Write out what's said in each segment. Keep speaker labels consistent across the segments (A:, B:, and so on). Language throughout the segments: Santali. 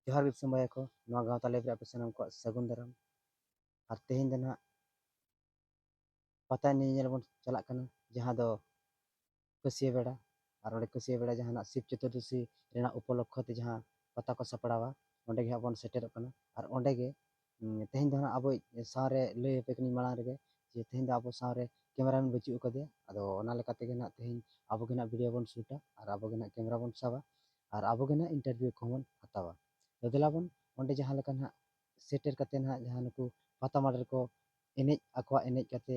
A: ᱡᱚᱦᱟᱨ ᱜᱮ ᱫᱤᱥᱚᱢ ᱵᱟᱭᱟ ᱠᱚ ᱱᱚᱣᱟ ᱜᱟᱶᱛᱟ ᱞᱟᱭᱤᱵᱽ ᱨᱮ ᱟᱯᱮ ᱥᱟᱱᱟᱢ ᱠᱚᱣᱟᱜ ᱥᱟᱹᱜᱩᱱ ᱫᱟᱨᱟᱢ ᱟᱨ ᱛᱮᱦᱮᱧ ᱫᱚ ᱱᱟᱦᱟᱜ ᱯᱟᱛᱟ ᱮᱱᱮᱡ ᱧᱮᱧᱮᱞ ᱵᱚᱱ ᱪᱟᱞᱟᱜ ᱠᱟᱱᱟ ᱡᱟᱦᱟᱸ ᱫᱚ ᱠᱟᱹᱥᱤᱭᱟᱹ ᱵᱮᱲᱟ ᱟᱨ ᱚᱸᱰᱮ ᱠᱟᱹᱥᱤᱭᱟᱹ ᱵᱮᱲᱟ ᱡᱟᱦᱟᱱᱟᱜ ᱥᱤᱵ ᱪᱚᱛᱩᱨᱫᱚᱥᱤ ᱨᱮᱱᱟᱜ ᱩᱯᱚᱞᱚᱠᱠᱷᱚ ᱛᱮ ᱡᱟᱦᱟᱸ ᱯᱟᱛᱟ ᱠᱚ ᱥᱟᱯᱲᱟᱣᱟ ᱚᱸᱰᱮ ᱜᱮ ᱦᱟᱸᱜ ᱵᱚᱱ ᱥᱮᱴᱮᱨᱚᱜ ᱠᱟᱱᱟ ᱟᱨ ᱚᱸᱰᱮ ᱜᱮ ᱛᱮᱦᱮᱧ ᱫᱚ ᱦᱟᱸᱜ ᱟᱵᱚᱭᱤᱡ ᱥᱟᱶᱨᱮ ᱞᱟᱹᱭ ᱟᱯᱮ ᱠᱟᱹᱱᱟᱹᱧ ᱢᱟᱲᱟᱝ ᱨᱮᱜᱮ ᱡᱮ ᱛᱮᱦᱮᱧ ᱫᱚ ᱟᱵᱚ ᱥᱟᱶᱨᱮ ᱠᱮᱢᱮᱨᱟ ᱢᱮᱱ ᱵᱟᱹᱪᱩᱜ ᱟᱠᱟᱫᱮᱭᱟ ᱟᱫᱚ ᱚᱱᱟ ᱞᱮᱠᱟ ᱛᱮᱜᱮ ᱱᱟᱜ ᱛᱮᱦᱮᱧ ᱟᱵᱚ ᱜᱮ ᱱᱟᱜ ᱵᱷᱤᱰᱤᱭᱳ ᱵᱚᱱ ᱥᱩᱴᱟ ᱟᱨ ᱟᱵᱚ ᱜᱮ ᱱᱟᱜ ᱠᱮᱢᱮᱨᱟ ᱵᱚᱱ ᱥᱟᱵᱟ ᱟᱨ ᱟᱵᱚ ᱜᱮ ᱱᱟᱜ ᱤᱱᱴᱟᱨᱵᱷᱤᱭᱩ ᱠᱚᱦᱚᱸ ᱵᱚᱱ ᱦᱟᱛᱟᱣᱟ ᱛᱚ ᱫᱮᱞᱟ ᱵᱚᱱ ᱚᱸᱰᱮ ᱡᱟᱦᱟᱸ ᱞᱮᱠᱟ ᱱᱟᱜ ᱥᱮᱴᱮᱨ ᱠᱟᱛᱮ ᱱᱟᱜ ᱡᱟᱦᱟᱸ ᱱᱩᱠᱩ ᱯᱟᱛᱟ ᱢᱟᱰᱮᱨ ᱠᱚ ᱮᱱᱮᱡ ᱟᱠᱚᱣᱟᱜ ᱮᱱᱮᱡ ᱠᱟᱛᱮ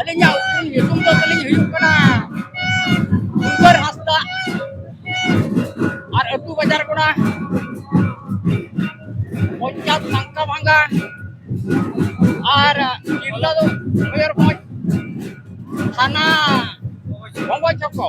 A: ᱟᱹᱞᱤᱧᱟᱜ ᱩᱯᱨᱩᱢ ᱧᱩᱛᱩᱢ ᱫᱚ ᱛᱟᱹᱞᱤᱧ ᱦᱩᱭᱩᱜ ᱠᱟᱱᱟ ᱩᱫᱷᱟᱹᱨ ᱦᱟᱸᱥᱫᱟ ᱟᱨ ᱟᱹᱛᱩ ᱵᱟᱡᱟᱨ ᱠᱚᱲᱟ ᱯᱚᱧᱪᱟᱭᱮᱛ ᱥᱟᱝᱠᱟ ᱵᱷᱟᱝᱜᱟ ᱟᱨ ᱡᱤᱞᱞᱟ ᱫᱚ ᱢᱚᱭᱩᱨᱵᱷᱚᱸᱡᱽ ᱛᱷᱟᱱᱟ ᱵᱚᱸᱜᱚ ᱪᱚᱠᱚ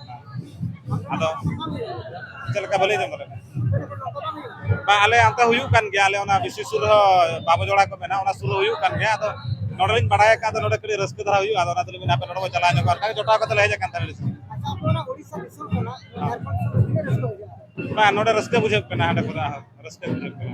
A: ᱟᱫᱚ ᱪᱮᱫ ᱞᱮᱠᱟ ᱵᱟᱹᱞᱤᱧ ᱟᱸᱡᱚᱢ ᱫᱟᱲᱮᱭᱟᱜ ᱵᱟᱝ ᱟᱞᱮ ᱚᱱᱛᱮ ᱦᱩᱭᱩᱜ ᱠᱟᱱ ᱜᱮᱭᱟ ᱟᱞᱮ ᱚᱱᱟ ᱵᱤᱥᱤ ᱥᱩᱨ ᱨᱮᱦᱚᱸ ᱵᱟᱵᱚ ᱡᱚᱲᱟ ᱠᱚ ᱢᱮᱱᱟᱜᱼᱟ ᱚᱱᱟ ᱥᱩᱨ ᱨᱮ ᱦᱩᱭᱩᱜ ᱠᱟᱱ ᱜᱮᱭᱟ ᱟᱫᱚ ᱱᱚᱰᱮ ᱞᱤᱧ ᱵᱟᱲᱟᱭ ᱟᱠᱟᱫ ᱱᱚᱰᱮ ᱠᱟᱹᱴᱤᱡ ᱨᱟᱹᱥᱠᱟᱹ ᱫᱷᱟᱨᱟ ᱦᱩᱭᱩᱜᱼᱟ ᱟᱫᱚ ᱚᱱᱟ ᱛᱮᱞᱤᱧ ᱢᱮᱱᱟ ᱟᱯᱮ ᱱᱚᱰᱮ ᱠᱚ ᱪᱟᱞᱟᱣ ᱧᱚᱜᱚᱜᱼᱟ ᱚᱱᱠᱟ ᱡᱚᱴᱟᱣ ᱠᱟᱛᱮ ᱞᱮ ᱦᱮᱡ ᱟᱠᱟᱱ ᱛᱟᱦᱮᱸ ᱵᱟᱝ ᱱᱚᱰᱮ ᱨᱟᱹᱥᱠᱟᱹ ᱵᱩᱡᱷᱟᱹᱜ ᱠᱟᱱᱟ ᱦᱟᱸᱰᱮ ᱠᱚᱨᱮ ᱨᱟᱹᱥᱠᱟᱹ ᱵᱩᱡᱷᱟᱹᱜ ᱠᱟᱱᱟ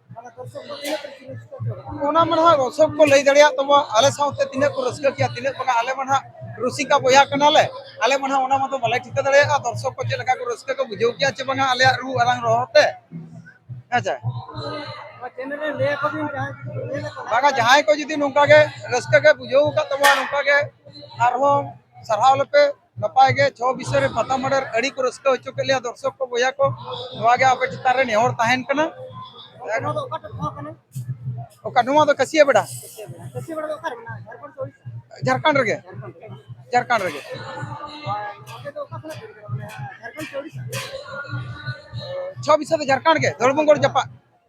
A: ᱚᱱᱟ ᱢᱟ ᱱᱟᱦᱟᱜ ᱥᱚᱵ ᱠᱚ ᱞᱟᱹᱭ ᱫᱟᱲᱮᱭᱟᱜ ᱛᱟᱵᱚ ᱟᱞᱮ ᱥᱟᱶᱛᱮ ᱛᱤᱱᱟᱹᱜ ᱠᱚ ᱨᱟᱹᱥᱠᱟᱹ ᱠᱮᱭᱟ ᱛᱤᱱᱟᱹᱜ ᱵᱟᱝᱟ ᱟᱞᱮ ᱢᱟ ᱱᱟᱦᱟᱜ ᱨᱩᱥᱤᱠᱟ ᱵᱚᱭᱦᱟ ᱠᱟᱱᱟᱞᱮ ᱟᱞᱮ ᱢᱟ ᱱᱟᱦᱟᱜ ᱚᱱᱟ ᱢᱟᱛᱚ ᱵᱟᱞᱮ ᱴᱷᱤᱠᱟᱹ ᱫᱟᱲᱮᱭᱟᱜᱼᱟ ᱫᱚᱨᱥᱚᱠ ᱠᱚ ᱪᱮᱫ ᱞᱮᱠᱟ ᱠᱚ ᱨᱟᱹᱥᱠᱟᱹ ᱠᱚ ᱵᱩᱡᱷᱟᱹᱣ ᱠᱮᱭᱟ ᱪᱮ ᱵᱟᱝᱟ ᱟᱞᱮᱭᱟᱜ ᱨᱩ ᱟᱲᱟᱝ ᱨᱚᱦᱚᱲ ᱛᱮ ᱟᱪᱪᱷᱟ ᱵᱟᱝᱟ ᱡᱟᱦᱟᱸᱭ ᱠᱚ ᱡᱩᱫᱤ ᱱᱚᱝᱠᱟ ᱜᱮ ᱨᱟᱹᱥᱠᱟᱹ ᱜᱮ ᱵᱩᱡᱷᱟᱹᱣ ᱟᱠᱟᱫ ᱛᱟᱵᱚᱱᱟ ᱱᱚᱝᱠᱟ ᱜᱮ ᱟᱨᱦᱚᱸ ᱥᱟᱨᱦᱟᱣ ᱞᱮᱯᱮ ᱱᱟᱯᱟᱭ ᱜᱮ ᱪᱷᱚ ᱵᱤᱥᱚᱭ ᱨᱮ ᱯᱟᱛᱟ ᱢᱟᱰᱮᱨ ᱟᱹᱰᱤ ᱠᱚ ᱨᱟᱹᱥᱠᱟᱹ ᱦᱚᱪᱚ ᱠᱮᱫ ᱞᱮᱭᱟ ᱫᱚᱨᱥᱚᱠ ᱠᱚ ᱵᱚᱭᱦᱟ ᱠᱚ ᱱᱚᱣᱟ ᱜᱮ ᱟᱯᱮ ᱪᱮᱛᱟᱱ ᱨᱮ ᱱᱮᱦᱚᱨ ᱛᱟᱦᱮᱱ ᱠᱟᱱᱟ ᱚᱠᱟ ᱱᱚᱣᱟ ᱫᱚ ᱠᱟᱹᱥᱤᱭᱟ ᱵᱮᱰᱟ ᱡᱷᱟᱲᱠᱷᱚᱸᱰ ᱨᱮᱜᱮ ᱡᱷᱟᱲᱠᱷᱚᱸᱰ ᱨᱮᱜᱮ ᱪᱷᱚ ᱵᱤᱥᱚᱭ ᱫᱚ ᱡᱷᱟᱲᱠᱷᱚᱸᱰ ᱜᱮ ᱫᱷᱚᱲᱵᱚᱝᱜᱚᱲ ᱡᱟᱯᱟᱜ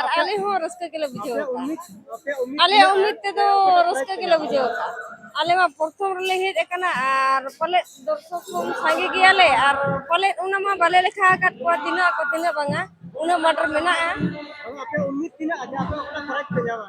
A: ᱟᱨ ᱟᱞᱮ ᱦᱚᱸ ᱨᱟᱹᱥᱠᱟᱹ ᱜᱮᱞᱮ ᱵᱩᱡᱷᱟᱹᱣ ᱟᱠᱟᱫᱼᱟ ᱟᱞᱮᱭᱟᱜ ᱩᱢᱤᱫ ᱛᱮᱫᱚ ᱨᱟᱹᱥᱠᱟᱹ ᱜᱮᱞᱮ ᱵᱩᱡᱷᱟᱹᱣ ᱟᱠᱟᱫᱼᱟ ᱟᱞᱮ ᱢᱟ ᱯᱨᱚᱛᱷᱚᱢ ᱨᱮᱞᱮ ᱦᱮᱡ ᱟᱠᱟᱱᱟ ᱟᱨ ᱯᱟᱞᱮᱫ ᱫᱚᱨᱥᱚᱠ ᱠᱚ ᱥᱟᱸᱜᱮ ᱜᱮᱭᱟᱞᱮ ᱟᱨ ᱯᱟᱞᱮᱫ ᱚᱱᱟ ᱢᱟ ᱵᱟᱞᱮ ᱞᱮᱠᱷᱟ ᱟᱠᱟᱫ ᱠᱚᱣᱟ ᱛᱤᱱᱟᱹᱜ ᱟᱠᱚ ᱛᱤᱱᱟᱹᱜ ᱵᱟᱝᱟ ᱩᱱᱟᱹᱜ ᱢᱟᱴᱷ ᱨᱮ ᱢᱮᱱᱟᱜᱼᱟ ᱟᱯᱮ ᱩᱢᱤᱫ ᱛᱤᱱᱟᱹᱜ ᱟᱯᱮ ᱚᱠᱟ ᱯᱨᱟᱭᱤᱡᱽ ᱯᱮ ᱧᱟᱢᱟ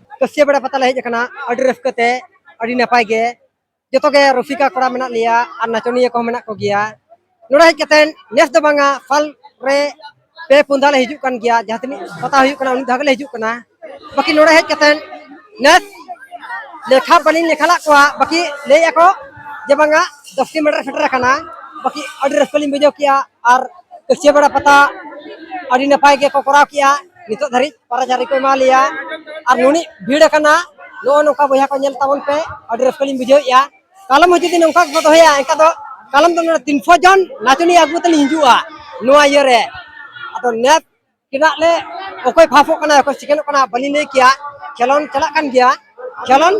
A: ᱠᱟᱹᱥᱤᱭᱟᱹ ᱵᱮᱲᱟ ᱯᱟᱛᱟ ᱞᱮ ᱦᱮᱡ ᱟᱠᱟᱱᱟ ᱟᱹᱰᱤ ᱨᱟᱹᱥᱠᱟᱹ ᱛᱮ ᱟᱹᱰᱤ ᱱᱟᱯᱟᱭ ᱜᱮ ᱡᱚᱛᱚ ᱜᱮ ᱨᱩᱥᱤᱠᱟ ᱠᱚᱲᱟ ᱢᱮᱱᱟᱜ ᱞᱮᱭᱟ ᱟᱨ ᱱᱟᱪᱚᱱᱤᱭᱟᱹ ᱠᱚᱦᱚᱸ ᱢᱮᱱᱟᱜ ᱠᱚᱜᱮᱭᱟ ᱱᱚᱰᱮ ᱦᱮᱡ ᱠᱟᱛᱮ ᱱᱮᱥ ᱫᱚ ᱵᱟᱝᱟ ᱥᱟᱞ ᱨᱮ ᱯᱮ ᱯᱩᱱ ᱫᱷᱟᱣ ᱞᱮ ᱦᱤᱡᱩᱜ ᱠᱟᱱ ᱜᱮᱭᱟ ᱡᱟᱦᱟᱸ ᱛᱤᱱᱟᱹᱜ ᱯᱟᱛᱟ ᱦᱩᱭᱩᱜ ᱠᱟᱱᱟ ᱩᱱᱤ ᱫᱷᱟᱣ ᱜᱮᱞᱮ ᱦᱤᱡᱩᱜ ᱠᱟᱱᱟ ᱵᱟᱹᱠᱤ ᱱᱚᱰᱮ ᱦᱮᱡ ᱠᱟᱛᱮ ᱱᱮᱥ ᱞᱮᱠᱷᱟ ᱵᱟᱹᱞᱤᱧ ᱞᱮᱠᱷᱟ ᱞᱟᱜ ᱠᱚᱣᱟ ᱵᱟᱹᱠᱤ ᱞᱟᱹᱭ ᱟᱠᱚ ᱡᱮ ᱵᱟᱝᱟ ᱫᱚᱥ ᱠᱤᱞᱳᱢᱤᱴᱟᱨ ᱥᱮᱴᱮᱨ ᱟᱠᱟᱱᱟ ᱵᱟᱹᱠᱤ ᱟᱹᱰᱤ ᱨᱟᱹᱥᱠᱟᱹ ᱞᱤᱧ ᱵᱩᱡᱷᱟᱹᱣ ᱠᱮᱜᱼᱟ ᱟᱨ ᱠᱟᱹᱥᱤᱭᱟᱹ ᱵᱮᱲᱟ ᱯᱟᱛᱟ ᱟᱹᱰᱤ ᱱᱟᱯᱟᱭ ᱜᱮᱠᱚ ᱠᱚᱨᱟᱣ ᱠᱮᱜᱼᱟ ᱱᱤᱛᱚᱜ ᱫᱷᱟᱹᱨᱤᱡ ᱯᱟᱨᱟ ᱡᱟᱨᱤ ᱠᱚ ᱮᱢᱟ ᱞᱮᱭᱟ ᱟᱨ ᱱᱩᱱᱤ ᱵᱷᱤᱲ ᱟᱠᱟᱱᱟ ᱱᱚᱜᱼᱚ ᱱᱚᱝᱠᱟ ᱵᱚᱭᱦᱟ ᱠᱚ ᱧᱮᱞ ᱛᱟᱵᱚᱱ ᱯᱮ ᱟᱹᱰᱤ ᱨᱟᱹᱥᱠᱟᱹ ᱞᱤᱧ ᱵᱩᱡᱷᱟᱹᱣᱮᱫᱼᱟ ᱠᱟᱞᱚᱢ ᱦᱚᱸ ᱡᱩᱫᱤ ᱱᱚᱝᱠᱟ ᱜᱮᱠᱚ ᱫᱚᱦᱚᱭᱟ ᱮᱱᱠᱷᱟᱱ ᱫᱚ ᱠᱟᱞᱚᱢ ᱫᱚ ᱱᱚᱰᱮ ᱛᱤᱱᱥᱚ ᱡᱚᱱ ᱱᱟᱪᱚᱱᱤᱭᱟᱹ ᱟᱹᱜᱩ ᱠᱟᱛᱮ ᱞᱤᱧ ᱦᱤᱡᱩᱜᱼᱟ ᱱᱚᱣᱟ ᱤᱭᱟᱹ ᱨᱮ ᱟᱫᱚ ᱱᱮᱛ ᱪᱮᱫᱟᱜ ᱞᱮ ᱚᱠᱚᱭ ᱯᱷᱟᱥᱚᱜ ᱠᱟᱱᱟ ᱚᱠᱚᱭ ᱥᱮᱠᱮᱱᱰᱚᱜ ᱠᱟᱱᱟ ᱵᱟᱹᱞᱤᱧ ᱞᱟᱹᱭ ᱠᱮᱭᱟ ᱠᱷᱮᱞᱳᱰ ᱪᱟᱞᱟᱜ ᱠᱟᱱ ᱜᱮᱭᱟ ᱪᱟᱞᱟᱱ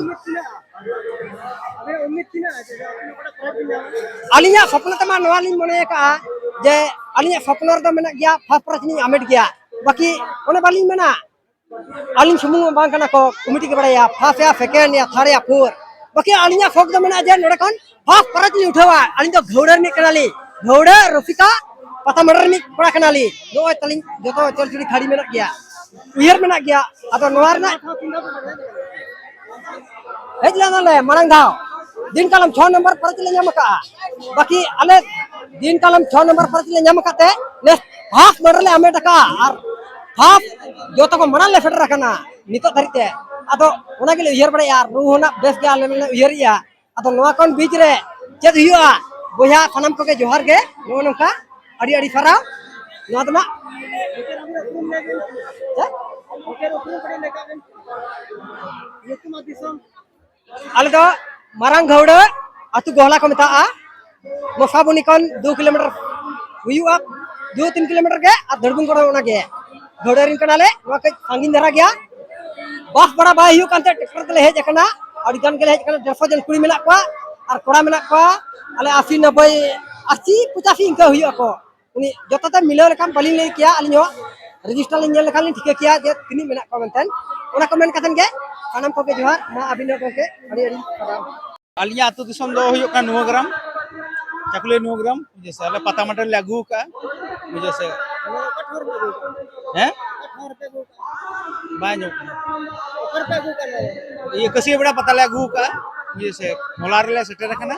A: ᱟᱹᱞᱤᱧᱟᱜ ᱥᱚᱯᱱᱚ ᱛᱮᱢᱟ ᱱᱚᱣᱟ ᱞᱤᱧ ᱢᱚᱱᱮ ᱟᱠᱟᱜᱼᱟ ᱡᱮ ᱟᱹᱞᱤᱧᱟᱜ ᱥᱚᱯᱱᱚ ᱨᱮᱫᱚ ᱢᱮᱱᱟᱜ ᱜᱮᱭᱟ ᱯᱷᱟᱥᱴ ᱯᱨᱟᱭᱤᱡᱽ ᱞᱤᱧ ᱟᱢᱮᱴ ᱜᱮᱭᱟ ᱵᱟᱹᱠᱤ ᱚᱱᱮ ᱵᱟᱹᱞᱤᱧ ᱢᱮᱱᱟ ᱟᱹᱞᱤᱧ ᱥᱩᱢᱩᱝ ᱢᱟ ᱵᱟᱝ ᱠᱟᱱᱟ ᱠᱚ ᱠᱚᱢᱤᱴᱤ ᱜᱮ ᱵᱟᱲᱟᱭᱟ ᱯᱷᱟᱥᱴ ᱭᱟ ᱥᱮᱠᱮᱱᱰ ᱭᱟ ᱛᱷᱟᱨᱰ ᱭᱟ ᱯᱷᱳᱨ ᱵᱟᱹᱠᱤ ᱟᱹᱞᱤᱧᱟᱜ ᱥᱚᱠ ᱫᱚ ᱢᱮᱱᱟᱜᱼᱟ ᱡᱮ ᱱᱚᱰᱮ ᱠᱷᱚᱱ ᱦᱚᱸ ᱯᱚᱨᱚᱡᱽ ᱞᱤᱧ ᱩᱴᱷᱟᱹᱣᱟ ᱟᱹᱞᱤᱧ ᱫᱚ ᱜᱷᱟᱹᱣᱲᱟᱹ ᱨᱤᱱᱤᱡ ᱠᱟᱱᱟᱞᱤᱧ ᱜᱷᱟᱹᱣᱲᱟᱹ ᱨᱚᱥᱤᱠᱟ ᱯᱟᱛᱟᱢᱟᱰᱟ ᱨᱤᱱᱤᱡ ᱠᱚᱲᱟ ᱠᱟᱱᱟᱞᱤᱧ ᱱᱚᱜᱼᱚᱭ ᱛᱟᱹᱞᱤᱧ ᱡᱚᱛᱚ ᱪᱚᱞᱪᱩᱲᱤ ᱠᱷᱟᱹᱲᱤ ᱢᱮᱱᱟᱜ ᱜᱮᱭᱟ ᱩᱭᱦᱟᱹᱨ ᱢᱮᱱᱟᱜ ᱜᱮᱭᱟ ᱟᱫᱚ ᱱᱚᱣᱟ ᱨᱮᱱᱟᱜ ᱦᱮᱡ ᱞᱮᱱᱟᱞᱮ ᱢᱟᱲᱟᱝ ᱫᱷᱟᱣ ᱫᱤᱱ ᱠᱟᱞᱚᱢ ᱪᱷᱚ ᱱᱚᱢᱵᱚᱨ ᱯᱚᱨᱚᱡᱽ ᱞᱮ ᱧᱟᱢ ᱟᱠᱟᱫᱼᱟ ᱵᱟᱹᱠᱤ ᱟᱞᱮ ᱫᱤᱱ ᱠᱟᱞᱚᱢ ᱪᱷᱚ ᱱᱚᱢᱵᱚᱨ ᱯᱚᱨᱚᱡᱽ ᱞᱮ ᱧᱟᱢ ᱟᱠᱟᱫ ᱛᱮ ᱱᱮᱥ ᱦᱟᱯ ᱢᱟᱰᱟᱨ ᱞᱮ ᱟᱢᱮᱴ ᱟᱠᱟᱫᱼᱟ ᱟᱨ ᱦᱟᱯ ᱡᱚᱛᱚ ᱠᱚ ᱢᱟᱲᱟᱝ ᱞᱮ ᱥᱮᱴᱮᱨ ᱟᱠᱟᱱᱟ ᱱᱤᱛᱚᱜ ᱫᱷᱟᱹᱨᱤᱡ ᱛᱮ ᱟᱫᱚ ᱚᱱᱟ ᱜᱮᱞᱮ ᱩᱭᱦᱟᱹᱨ ᱵᱟᱲᱟᱭᱮᱫᱼᱟ ᱨᱩ ᱦᱚᱸ ᱱᱟᱜ ᱵᱮᱥ ᱜᱮ ᱟᱞᱮ ᱞᱮ ᱩᱭᱦᱟᱹᱨᱮᱫᱼᱟ ᱟᱫᱚ ᱱᱚᱣᱟ ᱠᱷᱚᱱ ᱵᱤᱪ ᱨᱮ ᱪᱮᱫ ᱦᱩᱭᱩᱜᱼᱟ ᱵᱚᱭᱦᱟ ᱥᱟᱱᱟᱢ ᱠᱚᱜᱮ ᱡᱚᱦᱟᱨ ᱜᱮ ᱱᱚᱜᱼᱚ ᱱᱚᱝᱠᱟ ᱟᱹᱰᱤ ᱟᱹᱰᱤ ᱥᱟᱨᱦᱟᱣ ᱱᱚᱣᱟ ᱫᱚ ᱱᱟᱜ ᱟᱞᱮ ᱫᱚ ᱢᱟᱨᱟᱝ ᱜᱷᱟᱹᱣᱲᱟᱹ ᱟᱛᱳ ᱜᱚᱦᱞᱟ ᱠᱚ ᱢᱮᱛᱟᱜᱼᱟ ᱢᱚᱥᱟᱵᱚᱱᱤ ᱠᱷᱚᱱ ᱫᱩ ᱠᱤᱞᱳᱢᱤᱴᱟᱨ ᱦᱩᱭᱩᱜᱼᱟ ᱫᱩ ᱛᱤᱱ ᱠᱤᱞᱳᱢᱤᱴᱟᱨ ᱜᱮ ᱟᱨ ᱫᱷᱟᱹᱲᱵᱩᱱ ᱠᱚᱲᱟ ᱚᱱᱟ ᱜᱮ ᱜᱟᱹᱰᱤ ᱨᱤᱱ ᱠᱟᱱᱟᱞᱮ ᱱᱚᱣᱟ ᱠᱟᱹᱡ ᱥᱟᱺᱜᱤᱧ ᱫᱷᱟᱨᱟ ᱜᱮᱭᱟ ᱵᱟᱥ ᱵᱷᱟᱲᱟ ᱵᱟᱭ ᱦᱩᱭᱩᱜ ᱠᱟᱱᱛᱮ ᱴᱨᱟᱠᱴᱚᱨ ᱛᱮᱞᱮ ᱦᱮᱡ ᱟᱠᱟᱱᱟ ᱟᱹᱰᱤ ᱜᱟᱱ ᱜᱮᱞᱮ ᱦᱮᱡ ᱟᱠᱟᱱᱟ ᱰᱮᱲᱥᱚ ᱡᱚᱱ ᱠᱩᱲᱤ ᱢᱮᱱᱟᱜ ᱠᱚᱣᱟ ᱟᱨ ᱠᱚᱲᱟ ᱢᱮᱱᱟᱜ ᱠᱚᱣᱟ ᱟᱞᱮ ᱟᱥᱤ ᱱᱚᱵᱵᱳᱭ ᱟᱥᱤ ᱯᱚᱪᱟᱥᱤ ᱤᱱᱠᱟᱹ ᱦᱩᱭᱩᱜ ᱟᱠᱚ ᱩᱱᱤ ᱡᱚᱛᱚ ᱛᱮ ᱢᱤᱞᱟᱹᱣ ᱞᱮᱠᱷᱟᱱ ᱵᱟᱹᱞᱤᱧ ᱞᱟᱹᱭ ᱠᱮᱭᱟ ᱟᱹᱞᱤᱧ ᱦᱚᱸ ᱨᱮᱡᱤᱥᱴᱟᱨ ᱞᱤᱧ ᱧᱮᱞ ᱞᱮᱠᱷᱟᱱ ᱞᱤᱧ ᱴᱷᱤᱠᱟᱹ ᱠᱮᱭᱟ ᱡᱮ ᱛᱤᱱᱟᱹᱜ ᱢᱮᱱᱟᱜ ᱠᱚᱣᱟ ᱢᱮᱱᱛᱮ ᱚᱱᱟ ᱠᱚ ᱢᱮᱱ ᱠᱟᱛᱮ ᱜᱮ ᱥᱟᱱᱟᱢ ᱠᱚᱜᱮ ᱡᱚᱦᱟᱨ ᱢᱟ ᱟᱹᱵᱤᱱ ᱦᱚᱸ ᱜᱚᱢᱠᱮ ᱟᱹᱰᱤ ᱟᱹᱰᱤ ᱥᱟᱨᱦᱟᱣ ᱟᱹᱞᱤᱧᱟᱜ ᱟᱹᱛᱩ ᱫᱤᱥᱚᱢ ᱫᱚ ᱦᱩᱭᱩᱜ ᱠᱟᱱᱟ ᱱᱩᱣᱟᱹ ᱜᱨᱟᱢ ᱪᱟᱠᱩᱞᱤ ᱱᱩᱣᱟᱹ ᱜᱨᱟᱢ ᱵᱩᱡᱷᱟᱹᱣ ᱥᱮ ᱟᱞᱮ ᱯᱟᱛᱟ ᱢᱟᱴᱮ ᱞᱮ ᱟᱹᱜᱩ ᱠᱟᱜᱼᱟ ᱵᱩᱡᱷᱟᱹᱣ ᱥᱮ ᱦᱮᱸ ᱵᱟᱭ ᱧᱚᱜ ᱤᱭᱟᱹ ᱠᱟᱹᱥᱤ ᱵᱮᱲᱟ ᱯᱟᱛᱟ ᱞᱮ ᱟᱹᱜᱩ ᱠᱟᱜᱼᱟ ᱵᱩᱡᱷᱟᱹᱣ ᱥᱮ ᱦᱚᱞᱟ ᱨᱮᱞᱮ ᱥᱮᱴᱮᱨ ᱟᱠᱟᱱᱟ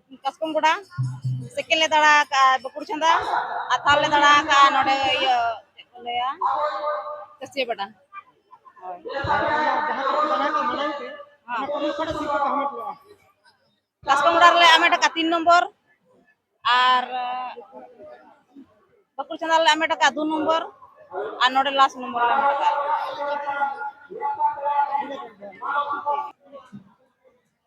A: ᱠᱟᱥᱠᱚᱢ ᱜᱚᱰᱟ ᱥᱮᱠᱮᱱ ᱞᱮ ᱫᱟᱬᱟ ᱟᱠᱟᱫᱼᱟ ᱵᱟᱹᱠᱩᱲ ᱪᱷᱟᱸᱫᱟ ᱟᱨ ᱛᱷᱟᱨᱰ ᱞᱮ ᱫᱟᱬᱟ ᱟᱠᱟᱫᱼᱟ ᱱᱚᱰᱮ ᱤᱭᱟᱹ ᱪᱮᱫ ᱠᱚ ᱞᱟᱹᱭᱟ ᱠᱟᱹᱥᱤᱭᱟᱹ ᱵᱟᱰᱟ ᱠᱟᱥᱠᱚᱢ ᱜᱚᱰᱟ ᱨᱮᱞᱮ ᱟᱢᱮᱴ ᱟᱠᱟᱫᱼᱟ ᱛᱤᱱ ᱱᱚᱢᱵᱚᱨ ᱟᱨ ᱵᱟᱹᱠᱩᱲ ᱪᱷᱟᱸᱫᱟ ᱨᱮᱞᱮ ᱟᱢᱮᱴ ᱟᱠᱟᱫᱼᱟ ᱫᱩ ᱱᱚᱢᱵᱚᱨ ᱟᱨ ᱱᱚᱰᱮ ᱞᱟᱥᱴ ᱱᱚᱢᱵᱚᱨ ᱞᱮ ᱟᱢᱮᱴ ᱟᱠᱟᱫᱼᱟ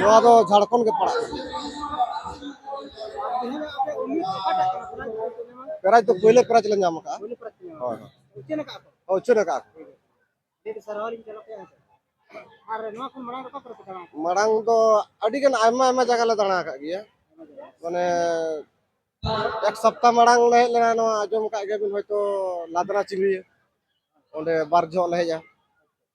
A: ᱱᱚᱣᱟ ᱫᱚ ᱡᱷᱟᱲᱠᱷᱚᱸᱰ ᱜᱮ ᱯᱟᱲᱟᱜ ᱯᱨᱟᱭᱤᱡᱽ ᱫᱚ ᱯᱳᱭᱞᱳ ᱯᱨᱟᱭᱤᱡᱽ ᱞᱮ ᱧᱟᱢ ᱟᱠᱟᱫᱼᱟ ᱦᱳᱭ ᱦᱳᱭ ᱩᱪᱷᱟᱹᱱ ᱟᱠᱟᱫᱼᱟ ᱢᱟᱲᱟᱝ ᱫᱚ ᱟᱹᱰᱤᱜᱟᱱ ᱟᱭᱢᱟ ᱟᱭᱢᱟ ᱡᱟᱭᱜᱟ ᱞᱮ ᱫᱟᱬᱟ ᱟᱠᱟᱫ ᱜᱮᱭᱟ ᱢᱟᱱᱮ ᱮᱠ ᱥᱚᱯᱛᱟ ᱢᱟᱲᱟᱝ ᱞᱮ ᱦᱮᱡ ᱞᱮᱱᱟ ᱱᱚᱣᱟ ᱟᱸᱡᱚᱢ ᱟᱠᱟᱫ ᱜᱮᱭᱟᱵᱤᱱ ᱦᱚᱭᱛᱳ ᱞᱟᱫᱽᱨᱟ ᱪᱤᱞᱤ ᱚᱸᱰᱮ ᱵᱟᱨ ᱡᱚᱦᱚᱜ ᱞᱮ ᱦᱮᱡᱼᱟ